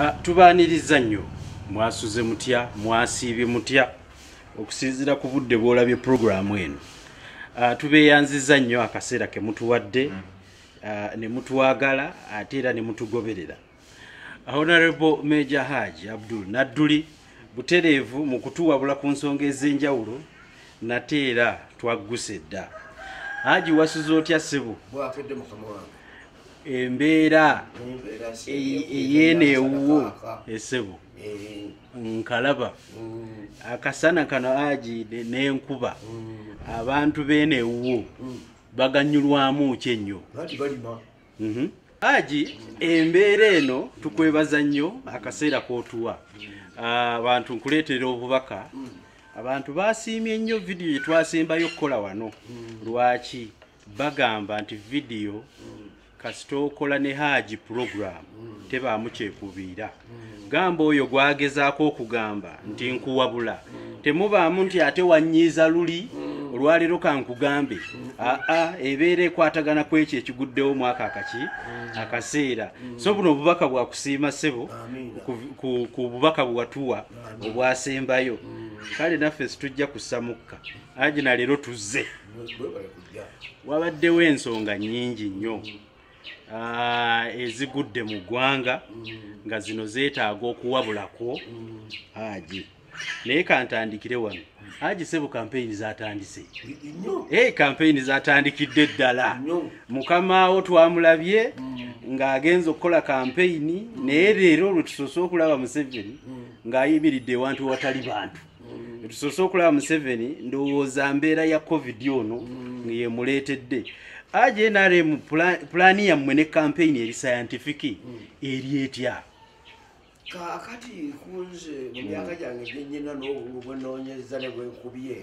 Ah, tubaaniriza nnyo mwasuze mutya mwasiibye mutya okusinziira ku budde bwolabye puroguramu eno ah, tubeeyanziza nnyo akaseera ke mutuwadde mm. ah, ne mutwagala ate era ne mutugoberera honorable major haji abdul nadduli butereevu mu kutuwabula ku nsonga ez'enjawulo nate era twagguse dda haji wasuze otya ssebo embeera eyeneewuwo esebo eh. nkalaba mm. akasana kano ajiide n'enkuba mm. abantu beenewuwo mm. baganyulwamu ki ennyo mhm. aji embeera eno tukwebaza nnyo akaseera k'otuwa ah, abantu nkuleetera obubaka abantu basiimye nnyo vidiyo gyetwasembayo okukola wano lwaki mm. bagamba nti vidiyo kasita okola ne haaji puroguramu tebaamu kyekubiira gamba oyo gwagezaako okugamba nti nkuwabula temubaamu nti ate wanyiiza luli olwaleero kankugambe aa ebeera ekwatagana ku ekyo ekiguddewo omwaka akaki akaseera so buno obubaka bwakusiima ssebo ku bubaka bwewatuwa obwasembayo kale naffe situjja kussa mukka aji na leero tuzze wabaddewo ensonga nyingi nnyo ah, ezigudde mu ggwanga nga zino zeetaaga okuwabulako aji naye kantandikire wano aji sebo kampeyini zatandise e kampeyini zatandikidde ddala mukamaawo twamulabye mm. ng'agenza okukola kampeyini naye leero olwetusoose okulaba museveni mm. ng'ayimiridde ewantu watali bantu mm. tusoose okulaba museveni ndowooza mbeera ya covid ono mm. ngeyemuleetedde aje nrm pulaani yammwe ne kampeyini eri sayantifiki mm. eri etya kakati kunze mu myaka gyange gyenyina n'obungu bwenoonyeza ne bwenkubye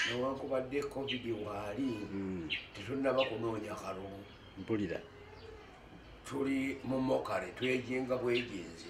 newankubadde covid waali tetunaba kunoonya kalungu mpulira tuli mu mokale twejinga bwejinzi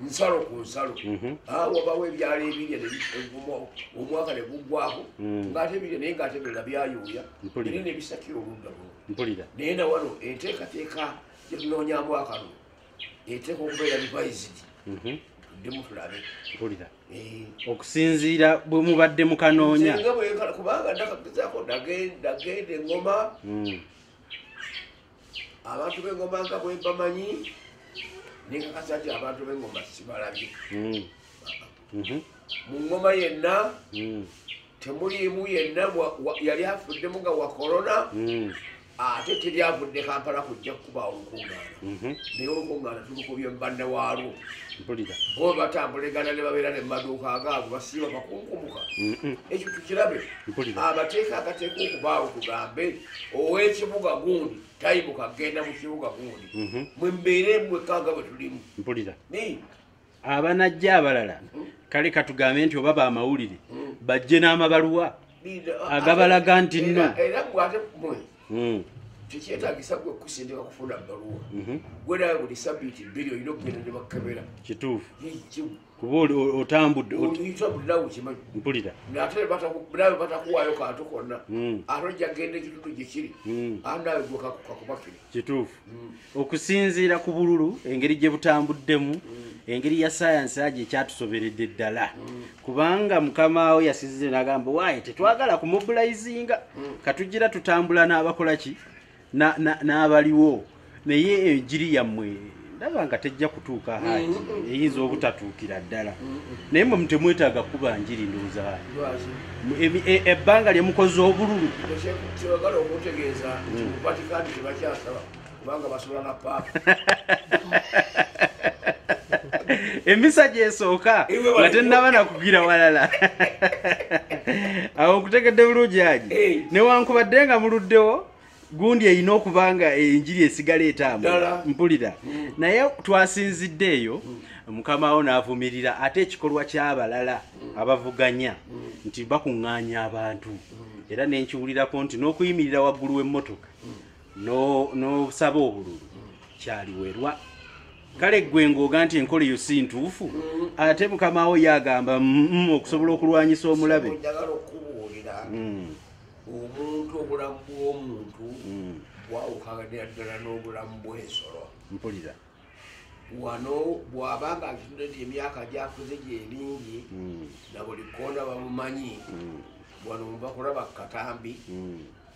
nsalo ku nsalo mhm. ah, wabawo ebyalo ebirya omwaka ne guggwako mm. ngaate birya naye ngaate birala byayuuya biri ne bisakira oludda luno mpulira naye na wano enteekateeka gye tunoonyamu akalulu eteeka okubeera revised mhm. tuddemu tulabe mpulira eh. okusinziira bwe mubadde mukanoonya kubanga ndakagezako ndagenda engoma mm. abantu bengoma nga bwebamanyi nekakasa nti abantu bengoma sibalabye hmm. mhm. mu ngoma yenna hmm. temuliimu yenna yali afuddemu nga wa korona hmm. ate teri avudde kampala kujja kukuba olukungaana mhm. naye olukungaana tulukubye mubanna waalwo bo batambulegana ne babeera ne mumaduuka agaabo basiiba bakunkumuka ekyo tukirabe amateeka agateeka okubaawo tugambe owekibuga gundi tayibuka agenda mu kibuga gundi mhm. mwe mbeere mwekanga bwe tulimu mpulira abanajja abalala hmm? kale katugambe nti oba bamawulire hmm. bajje n'amabaluwa agabalaga nti nno era bwate mwe hmm. tekyetagisa gwe kusindika kufuna baluwa mhm. gwe nawe buli sabiiti bbiri olina okugenda ne bakebera kituufu kuba otambudde mpulira ate nawe batakuwaayo kantu konna hmm. ate ojja kgenda ekitundu gyekiri hmm. ate nawe gwekakubakiri kituufu hmm. okusinziira ku bululu engeri gye butambuddemu engeri ya sayansi agyo ekyatusoberedde ddala kubanga mukamaawo yasize nagamba waaye tetwagala kumubulayizinga katugira tutambula n'abakola ki n'abaliwo naye enjiri yammwe ndaba nga tejja kutuuka haji mm, mm, mm. eyinza obutatuukira ddala naye mwe mutemwetaaga kuba njiri ndowooza haji e, ebbanga lye mukoze obululu emisa gyesooka nga tenaba nakugira walala awo nkutegedde bulungi aji newankubadde nga muluddewo gundi erina okuba nga enjiri esigala etaamu mpulira mm. naye twasinzidde eyo mm. mukama wo n'avumirira ate ekikolwa ky'abalala mm. abavuganya nti bakuŋŋaanya abantu era nenkiwulirako nti n'okuyimirira waggulu w'emmotoka n'osaba obululu kyaliwerwa kale ggwe ng'oga nti enkola eyo si ntuufu ate mukamawo ye agamba mm, mm, okusobola okulwanyisa omulabe mm. omuntu obulamu bw'omuntu bwawukanira ddala n'obulamu bw'ensolo mpulira wano bwaba nga atunde nti emyaka gyakuze gyemingi na buli kona bamumanyi wano mubakulaba katambi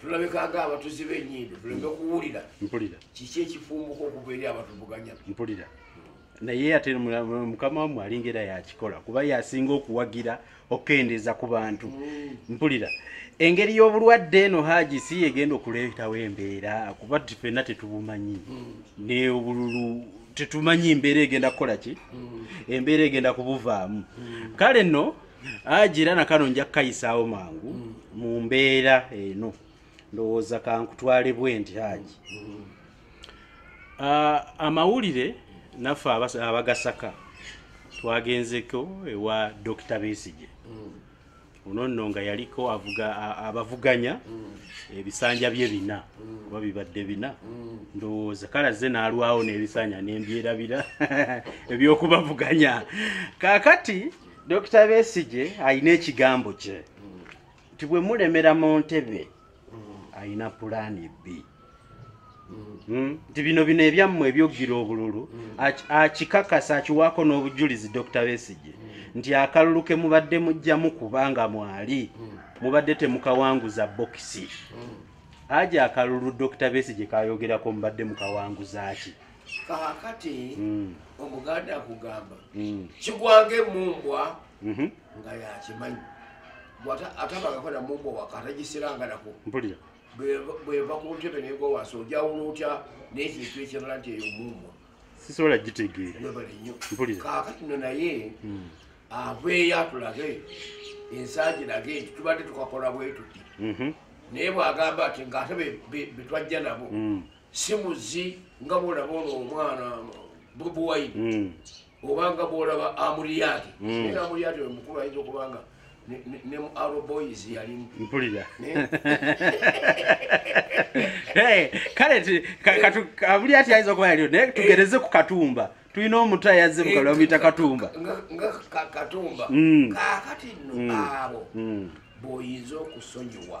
tulabikaga abatuzi benyindo tuleme kuwulira mpulira kiki ekifumbuka okuva eri abatuvuganya mpulira naye ate mukama wamwe alinga era yakikola kuba yasinga okuwagira okukendeeza ku bantu mm. mpulira engeri y'obulwadde eno haji si egenda okuleetawo embeera kuba ffenna tetubumanyi mm. neobululu tetumanyi embeera egenda kukola ki mm. embeera egenda kubuvaamu kale no aji era nakano nja kukayisaawo mangu mm. mu mbeera eno ndowooza kankutwale bwe nti aji mm. ah, amawulire naffe abagasaka twagenzeko ewa dokita besige mm. ono nno nga yaliko abavuganya ebisanja bye bina oba bibadde bina ndowooza kale azze n'alwawo n'ebisanja nembyerabira ebyokubavuganya kakati Dokita Besigye alina ekigambo kye nti bwe mulemera mu ntebe alina pulaani bbi hmm? nti bino bino ebyammwe ebyogira obululu akikakasa akiwaako n'obujulizi Dokita Besigye nti akalulu ke mubadde mujjamu kubanga mwali mubadde temukawanguza bokisi aja akalulu Dokita Besigye kayogerako mubadde mukawanguzaaki kakati mm. omuganda akugamba mm. kigwanga emumbwa mm-hmm. nga yakimanyi atabangako namumbwa wakatagiseranganako bweva ku ntebe negowansi ojawula otya nekintu ekirala nti eyo mumbwa sisobola gitegeera kakati no naye mm. aveeyo atulage ensangi lage nti tubadde tukakola bwetuti mm-hmm. naye bwagamba ati ngaate betwajja nabo simuzi nga bwolaba ono omwana bobi wine hmm. obanga bwolaba amuriyadi hmm. era amuriyadi oyo mukulu ayinza okubanga ne mu aroboys yalimu mpulira kale amuriyadi ayinza okuba yaliyo naye tugereze ku katumba tulina omutu ayazze mukabula bamuyita katumba nga katumba hmm. kakati nno abo boyinza okusonyiwa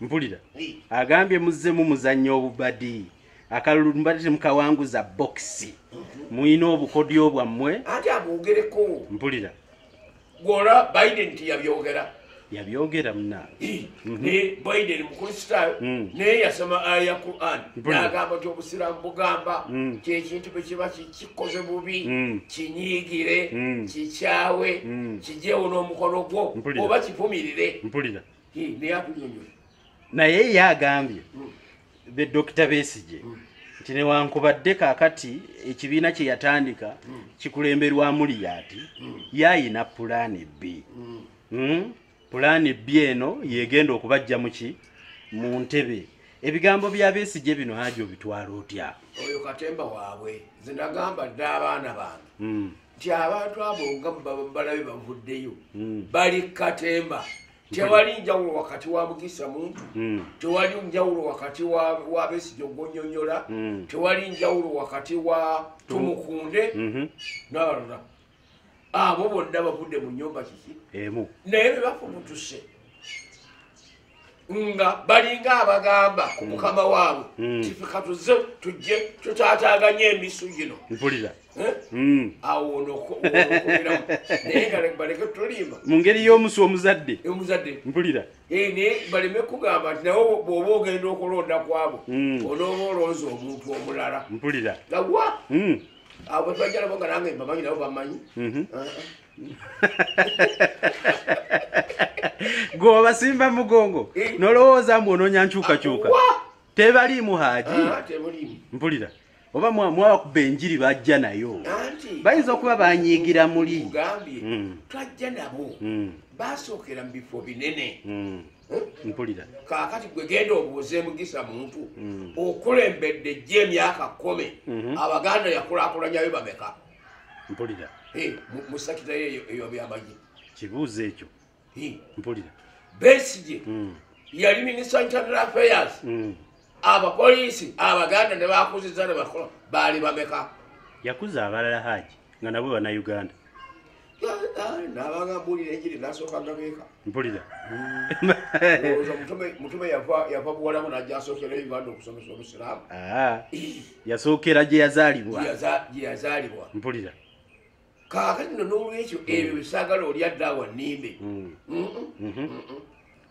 mpulira agambye muzzemu muzannya obubadi akalulu mbadde temukawanguza bokisi mhm. mulina obukodyo bwammwe ati abwogereko mpulira gwolwa biden nti yabyogera yabyogera muna mhm. ne biden mukristaayo mm. naye yasoma aya quran nagamba ti obusiraamu bugamba mm. kyekintu bwekiba kikoze bubi mm. kinyiigire kikyawe kijewo n'omukono gwo oba kivumirire mpulira naye ye agambye hmm. be dokita besije hmm. nti newankubadde kakati ekibiina kye yatandika hmm. kikulemberwamu liyaati yayina pulaani bbi pulaani bbi eno yegenda okubajja muki mu ntebe ebigambo bya besije bino haji obitwala otya oyo katemba waabwe zinagamba dda abaana bange nti abantu abo nga balabe bavuddeyo hmm. bali katemba tewali njawulo wakati wa mugisa muntu hmm. tewali njawulo wakati wa besijo gonyonyola hmm. tewali njawulo wakati wa tumukunde mhm. nabalala abo bonna bavudde mu nyumba kiki naye bebafumutuse nga balinga abagamba ku hmm. mukama waabwe hmm. tifikatuze tujje tutaataganye emisu gino mpulira eh? hmm. awonokuiramu naye nga baleke tulimba mu ngeri y'omusu omuzadde omuzadde mpulira eh, naye baleme kugamba nti nawe bwoba ogenda okulonda kwabo onooba olonza omuntu omulala mpulira gawa abo twajalabo nga nange mbamanyi nabo bamanyi mhm. ah, ah. gwe obasimba mugongo eh. nolowooza mbu onoonya nkyukakyuka tebaliimu haaji ah, mpulira oba mwabakuba enjiri bajja nayo bayinza okuba banyiigira muli hmm. twajja nabo hmm. basookera mu bifo binene hmm. eh? mpulira kakati gwe genda obuuze mugisa muntu okulembedde jjo emyaka kumi abaganda yakulakulanyayo bameka mpulira mu sakita eyo eyo byamagi kibuuzo ekyo mpulira besigye hmm. yali minisita internal affairs hmm. abapoliisi abaganda ne bakuziza ne bakola baali bameka yakuza abalala haji nga nabo banauganda nabanga mbulira enjiri nasooka gabeeka mpulira mutume yava buwalamu najja asookera uganda okusomesa obusiraamu yasookera gyeyazaalibwa gyeyazaalibwa mpulira kaakati no n'olwekyo ebyo bisaagala olya daawa nimbe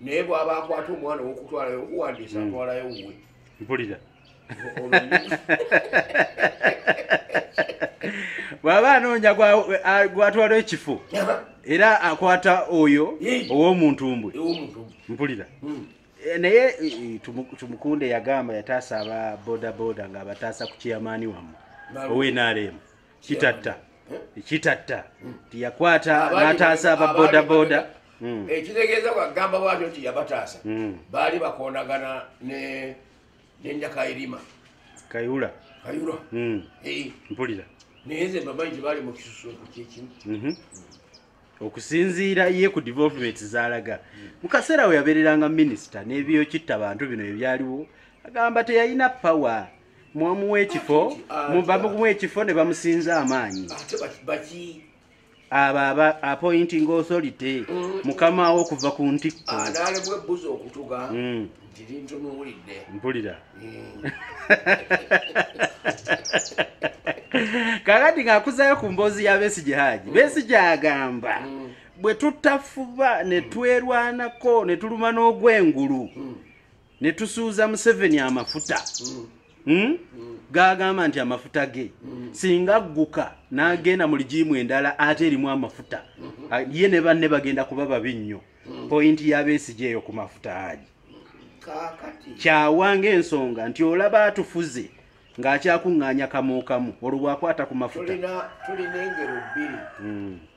naye bwaba akwata omwana owokutwalayo okuwandiisa hmm. atwalayo wuwe mpulira bwaba anoonya gwatwala ekifo era akwata oyo owomuntumbwe mpulira hmm. eh, naye eh, tumukunde yagamba yataasa aba bodaboda ngaabataasa ku kiyamaani wamu owenaremu kitatta ekitatta tiyakwata nataasa aba bodaboda hmm. ekitegeeza bwagamba bwatyo nti yabataasa hmm. baali bakondagana nenjakairima kayula kayula hmm. eh. mpulira naye nze mbamanyi nti baali mukisusunku kyekimu mhm. okusinziira ye ku development zalaga mukaseera we yabeereranga minisita n'ebiyokitta bantu bino ebyaliwo agamba teyalina power mwamuwa ekifo bamuwa ekifo ne bamusinza amaanyi abo aba appointing authority mm. mukama wo okuva ku ntikko ah, mm. mpulira mm. kakati ng'akuzayo ku mboozi ya besigi haji besigi agamba bwe tutafuba ne twerwanako ne tuluma n'ogwengulu ne tusuuza museveni amafuta mm. Hmm? gagamba nti amafuta ge singa agguka n'agenda mu ligiimu endala ate erimu amafuta ye ne banne bagenda kuba babi nnyo pointi yabeesigi eyo ku mafuta agi kyawanga ensonga nti olaba atufuze ng'akyakuŋŋaanya kamuukamu olwo bwakwata ku mafuta tulina engero bbiri hmm.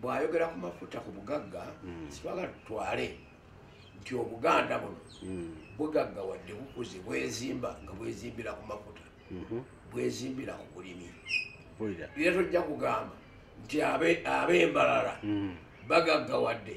bwayogera ku mafuta ku bugagga hmm. sitwagala tutwale nti obuganda buno hmm. bugagga wadde bukuze bwezimba nga bwezimbira ku mafuta mhm. bwezimbira ku bulimi era tojja kugamba nti ab'embalala hmm. bagagga wadde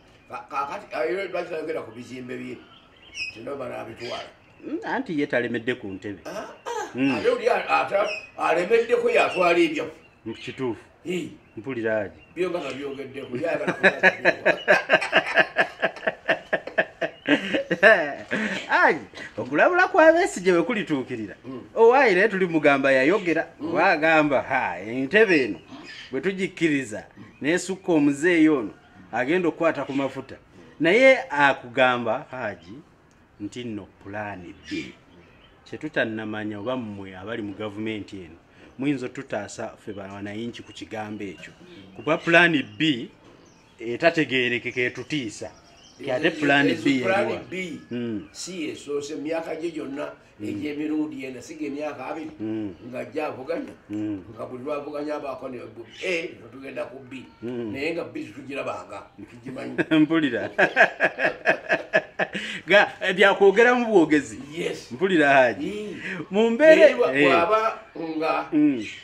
kakati era lwaki tayogera ku bizimbe bye tino banaabitwala hmm, anti ye talemedde ku ntebe ah, ah. Hmm. ate oli alemeddeko yatwala ebyafu hmm, kituufu mpuliraaki byonga nga byogeddeko ai okulabula kwabesigye bwe kulituukirira owaayi naye tuli mugamba yayogera oba agamba ha entebe eno bwe tugikkiriza nesukka omuzeeyi ono agenda okukwata ku mafuta naye akugamba haji nti no pulaani bbi kyetutannamanya oba mmwe abali mu gavumenti eno muyinza otutaasa ffe banayinki ku kigambo ekyo kuba pulaani bbi etategeerekeka etutiisa ate pulaani bbi yeriwa hmm. si yesoose myaka gye gyonna Mm. egyemirundi ena siga emyaka abiri mm. nga ajja avuganya mm. nga buli lwavuganya abaako ne a netugenda ku b naye nga b tugirabanga tukimanyi mpulira ga eh, byakwogera mu bwogezi mpulira haji mu mbeerewaba eh. nga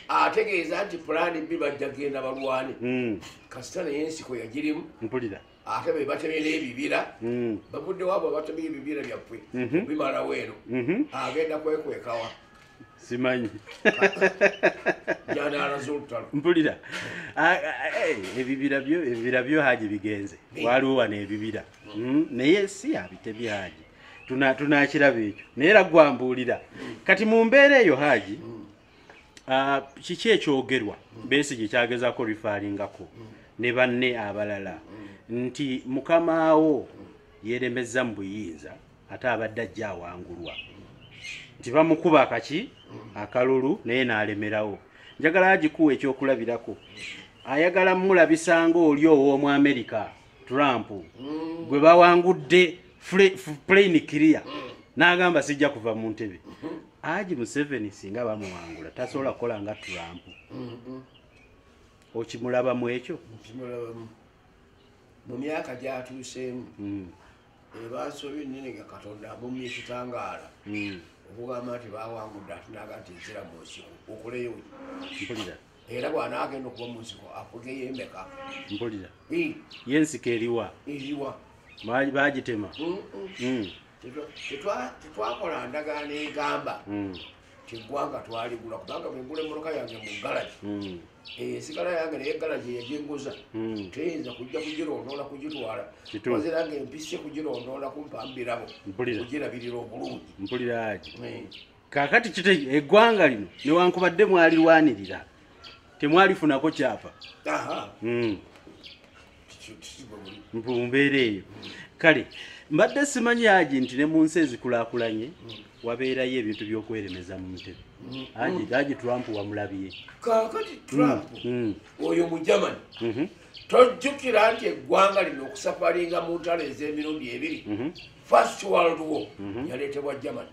ategeeza nti pulaani b bajja genda balwane kasita naye ensiko yagirimu mpulira ate be batemera ebibira hmm. bavuddewo abo abatemera ebibira byaffe mhm. bimalawo eno mhm. agenda kwekwekawa simanyi mpulira ebibira byo ebibira byo haji bigenze waliwo wano ebibira hmm? naye si abitemye haji tunakiraba ekyo naye era gwambuulira kati mu mbeera eyo haji hmm. Ah, kiki ekyogerwa besi gyekyagezako rifaringako ne banne abalala nti mukamaawo yeremezza mu buyinza ate abadde ajja awangulwa nti bamukuba akaki akalulu naye nalemerawo njagala agikuwa ekyokulabirako ayagala mulabisanga oli ow'omu amerika trump mm. gwe bawangudde plain clear mm. n'agamba sijja kuva mu ntebe mm-hmm. aji museveni singa bamuwangula tasobola kukola nga trump mm-hmm. okimulaba mu ekyo mu myaka gyatuuseemu mm. ebansobi nene nga katonda amumye ekitangaala okugamba nti bawangudde atinaga nti nsira mu nsi okuleyo era bwanaagenda okuba munsiko afugeyo emeka mpulira ye ensiko eriwa eriwa bagitema tetwakola ndagaano egamba mm. kigwanga twaligula kubanga bwegula emmotoka yange mu galagi hmm. eh, esigala yange naye galagi yejinguza hmm. teyinza kujja kugirondoola kugitwala ozira nga empise kugirondoola kumpambirabo kugirabirira obulungi mpuliraki hmm. kakati kite eggwanga lino newankubadde mwalirwanirira temwalifunako kyapa hmm. mumbeera eyo kale mbadde simanyi aji nti ne mu nsi ezikulakulanye hmm. wabeerayo ebintu byokweremeza mu ntebe hmm. aji trump wamulabye kakati trump oyo mu germany mhm. tojjukira nti eggwanga lino okusafaringa mu ntalo ez'emirundi ebiri mhm. first world war mhm. yaleetebwa germany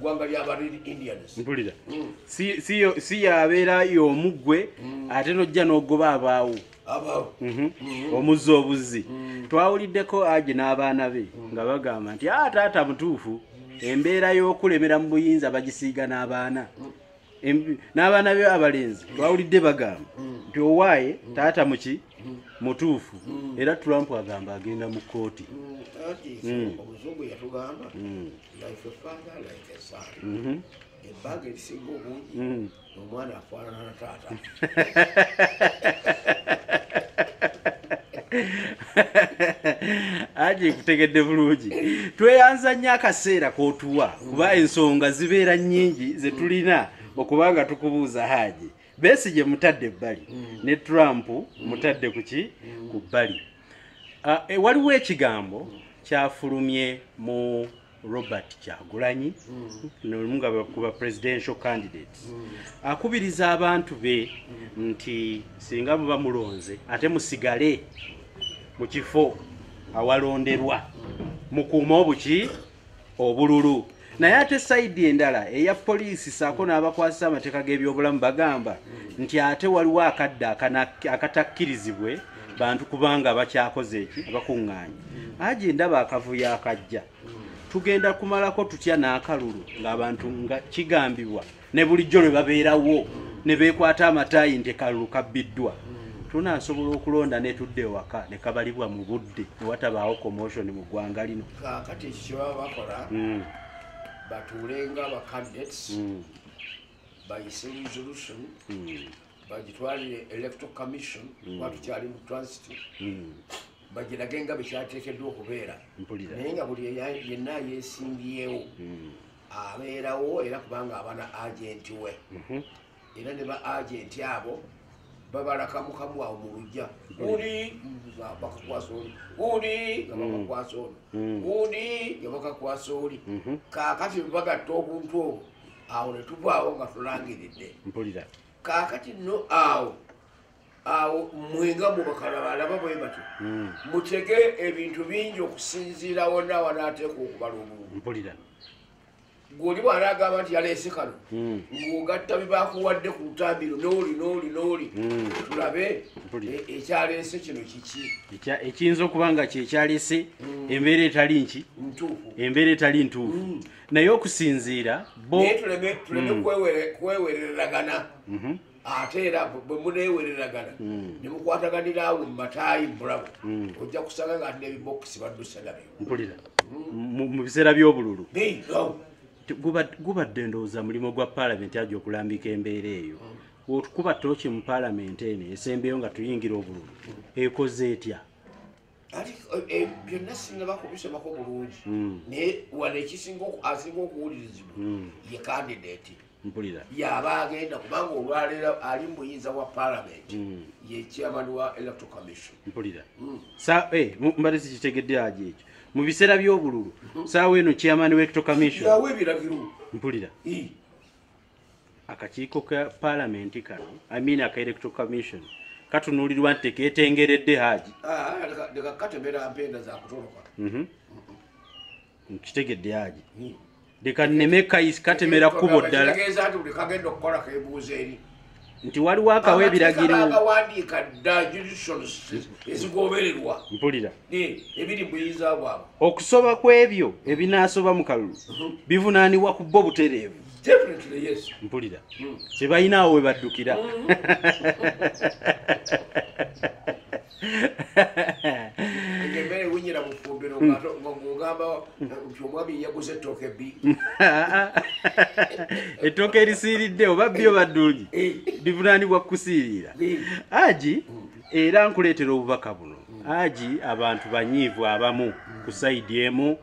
gwanga lyaba red indians mpulira mm. si yabeera yomu gwe mm. ate nojja nogoba abaawo mhm. mm. omuzza obuzzi twawuliddeko aje n'abaana be nga bagamba nti a ah, taata mutuufu embeera y'okulemera mu buyinza bagisiiga n'abaana n'abaana be abalenzi bawulidde bagamba nti owaaye taata muki mutuufu era trump agamba agenda mu kkooti ebbanga erisinga obungi omwana afaanana taata aje kutegedde bulungi tweyanza nnyo akaseera kotuwa kuba ensonga zibeera nnyingi zetulina okuba nga tukubuuza haaji besi gye mutadde ebbali mm. ne trump mutadde kuki mm. ku bbali ah, eh, waliwo ekigambo kyafulumye mu robert kyagulanyi nomu nga bakuba presidential candidates akubiriza abantu be nti singa buba mulonze ate musigale mu kifo awalonderwa mukuuma obuki obululu naye ate saidi endala eya poliisi saako n'abakwasa amateeka g'ebyobulamu bagamba nti ate waliwo akadde akatakkirizibwe bantu kubanga bakyakoze eki abakuŋŋaanye aje ndaba akavuyo akajja tugenda kumalako tutya n'akalulu ng'abantu nga kigambibwa ne bulijjo lwe babeerawo ne beekwata amataayi nti kalulu kabbiddwa tunasobola okulonda netudda ewaka nekabalibwa mu budde newatabaawo commotion mu ggwanga lino kakati kyebaba bakola hmm. batuulenga abacadets hmm. bayise resolution hmm. bagitwalire electoral commission mm. kuba tukyali mu transit mm. bagirage nga bekyateekeddwa okubeera naye nga buli yenna yeesimbyewo mm. abeerawo era kubanga abana agenti we mm-hmm. era ne ba agenti abo babalakamukamu awo mu lujja uli bakakwasa oli uli nga bakakwasa oli uli nga bakakwasa oli kaakati bagatta obuntu obwo awo ne tuvaawo nga tulangiridde mpulira kaakati no awo awo mwenga mubakalabalaba bwe batyo hmm. mutege ebintu bingi okusinziira wonna wanaateeka okubala obubu mpulira gwoli bwala agamba nti yaleese kano hmm. ng'ogatta bibakuwadde ku lutambiro nooli nooli nooli hmm. tulabe e-, ekyaleese kino kiki ekiyinza okuba nga kyekyaleese embeera etali nki embeera etali ntuufu naye okusinziira naye tuleme mm. kwewereragana mhm. ate era bwe muneewereragana mm. ne mukwataganira awo mu mataayi mulamu mm. ojja kusanga nga ati nebibokisi baddusa nabyo mpulira mu biseera by'obululu gubadde ndowooza mulimu gwa paalamenti aja okulambika embeera eyo okuba tooki mu paalamenti eno esembeyo nga tuyingira obululu ekoze etya ati eh, eh, byonna singa bakubisomako bulungi hmm. naye wano ekisinga asinga okuwulirizibwa hmm. ye kandidati mpulira yaba agenda kubanga olwaleero ali mu buyinza bwa palamenti hmm. ye chairman wa electro commission mpulira sa eh, mbadde sikitegedde aja ekyo mu biseera by'obululu saawa eno chairman wa electro commission yawa ebiragiro mpulira akakiiko ka palamenti kano i mean aka electoral commission katunuulirwa nti teketengeredde haaji nkitegedde haaji leka nneme katemera kkubo ddala nti waliwo akawa ebiragirooawandiika dda juditions ezigobererwa mpulira ebiri muyinza bwabwe okusoba ku ebyo ebinaasoba mu kalulu mhm. bivunaanibwa ku bo butereevu mpulira kye mm. balina awo we baddukira mm. embere winyira mufumbiro hmm. ngogamba nti omwami yaguze ettooke bi ettooke erisiiridde oba byo baddungi eh. bivunanibwa kukusiirira eh. aji hmm. era nkuleetera obubaka buno hmm. aji abantu banyiivu abamu ku saidi emu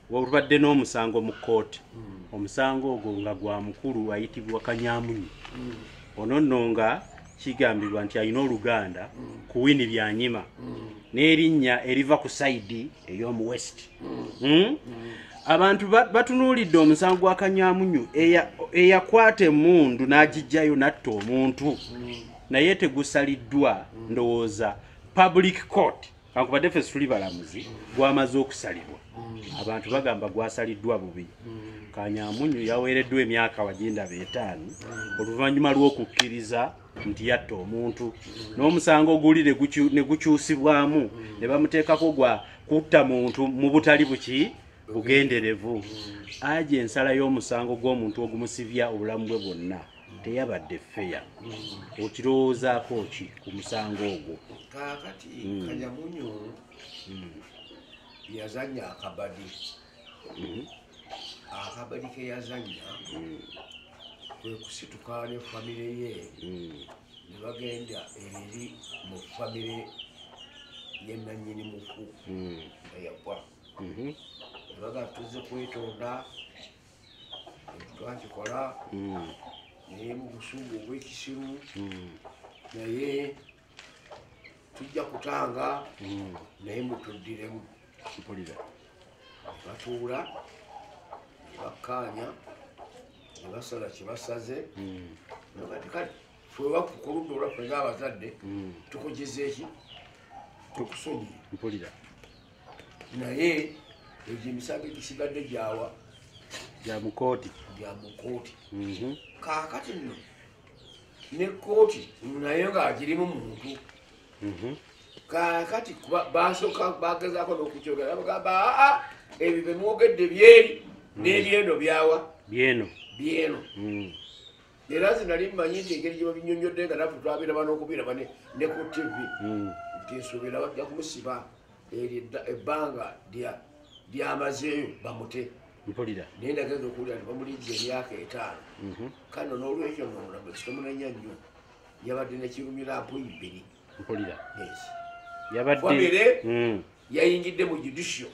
wabadde n'omusango mu kkooti hmm. omusango ogwo nga gwa mukulu ayitibwa kanyamunyi hmm. ono nno nga kigambibwa nti alina oluganda hmm. ku wini byanyima n'erinnya eriva ku sayidi ey'omu west abantu batunuulidde omusango gwa kanyamunyu eyakwata emundu n'agijjayo natta omuntu naye tegusaliddwa ndowooza public court kankubadde ffe situli balamuzi gwamaze okusalibwa mm. abantu bagamba gwasaliddwa bubi mm. kanyamunyu yaweereddwa emyaka wajindaba etaano mm. oluvannyuma lw'okukkiriza nti yatta omuntu n'omusango oguli ne gukyusibwamu ne bamuteekako gwa kutta muntu mu butali buki bugenderevu aja ensala y'omusango gw'omuntu ogumusibya obulamu bwe bwonna teyabadde feya okirowoozaako ki ku musango ogwo kakati hmm. kanyamunyu hmm. yazanya akabadi hmm. akabadi keyazanya kwekusituka ne famire ye nebagenda eri mu famire yenanyini mufu eyagwa nebagatuze kwetonda twakikola hmm. naye mu busungu obwekisiru hmm. naye tujja kutanga hmm. naye mutuddiremu mpulira batuula bakkaanya ne basala kye basaze nogati kale fwewakukuludda olwaffe ngaabazadde tukugizeeki tukusonyiye mpulira naye egyo emisango egisigadde gyawa gya mukooti gya mukooti mhm. kaakati nno ne kooti naye ng'agirimu muntu mhm. kaakati basooka bagezaako n'okukyogera bagamba aa ebyo bemwogedde byeri mm. n'ebyeno byawa byeno byeno mm. era nze nali mmanyi nti engeri gye babinyonyodde nga nafe twabiraba n'okubiraba ne ku tv hmm. nti nsuubira bajja kumusiba eryo ebbanga lyamazeeyo bamute mpulira naye ndagenda okuwulira nti bamulijja emyaka etaano mhm. kano n'olwekyo nomulamu ekitomunenya nnyo yabadde nekirumira mpu ibiri mpulira yabadde hmm. yayingidde mu judicial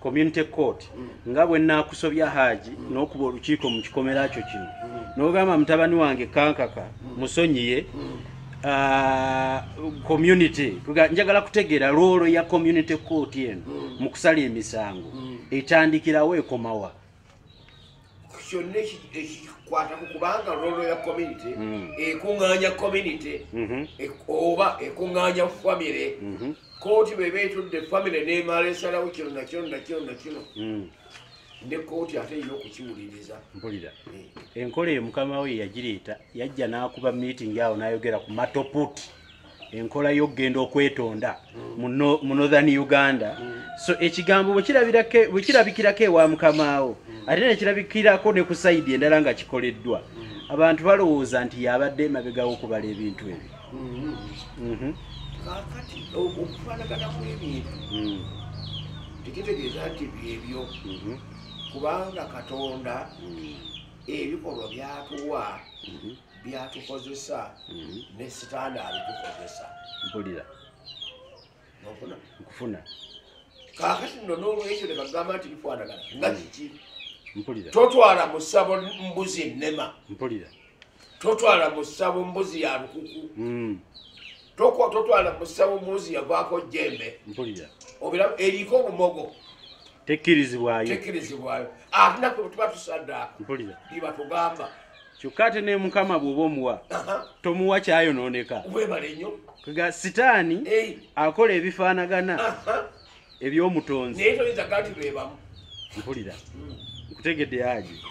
community court mm. nga bwe naakusobya haaji mm. n'okuba olukiiko mu kikomera kyo kino mm. n'ogamba mutabani wange kankaka musonyiye ah, community njagala kutegeera loolo ya community court eno mu kusala emisango etandikirawo ekomawa kyonna ekikwatako kubanga rolo ya community mm. ekuŋŋaanya community mm-hmm. e, oba ekuŋŋaanya famire mm-hmm. kooti bweba etudde famire nemala esalawo kino nakino nakino nakino mm. ne kooti ate erina okukiwuliriza mpulira eh. enkola eyo mukama we yagireeta yajja n'akuba meeting awo n'ayogera ku matoputi enkola y'okugenda okwetonda mu northern uganda so ekigambo bwekirabikirako ewa mukamaawo ate nekirabikirako ne ku saidi endala nga kikoleddwa abantu balowooza nti yabadde emabegawo okubala ebintu ebyo mhm. kakati okufanaganamu ebintu mm. tekitegeeza nti byebyo mhm. kubanga katonda mm. ebikolwa byatuwa mhm. byatukozesa mhm. ne sitaani abitukozesa mpulira nofuna nkufuna kakati no nolwekyo nebagamba nti bifanagana nga mhm. kiki mpulira totwala musabo mbuzi enema mpulira totwala musabo mbuzi ya lukuku mhm. tokwa totwala musabo mbuzi yavaako jembe mpulira obira eriko obumogo tekkirizibwayo tekkirizibwayo atinaku ah, tuba tusaddaaka mpulira bibatugamba kyokka ate ne mukama bw'oba omuwa tomuwa kyayonooneka webale nnyo ga sitaani akola ebifaanagana eby'omutonzi naye toyinza gati bebamu mpulira hmm. nkutegedde aje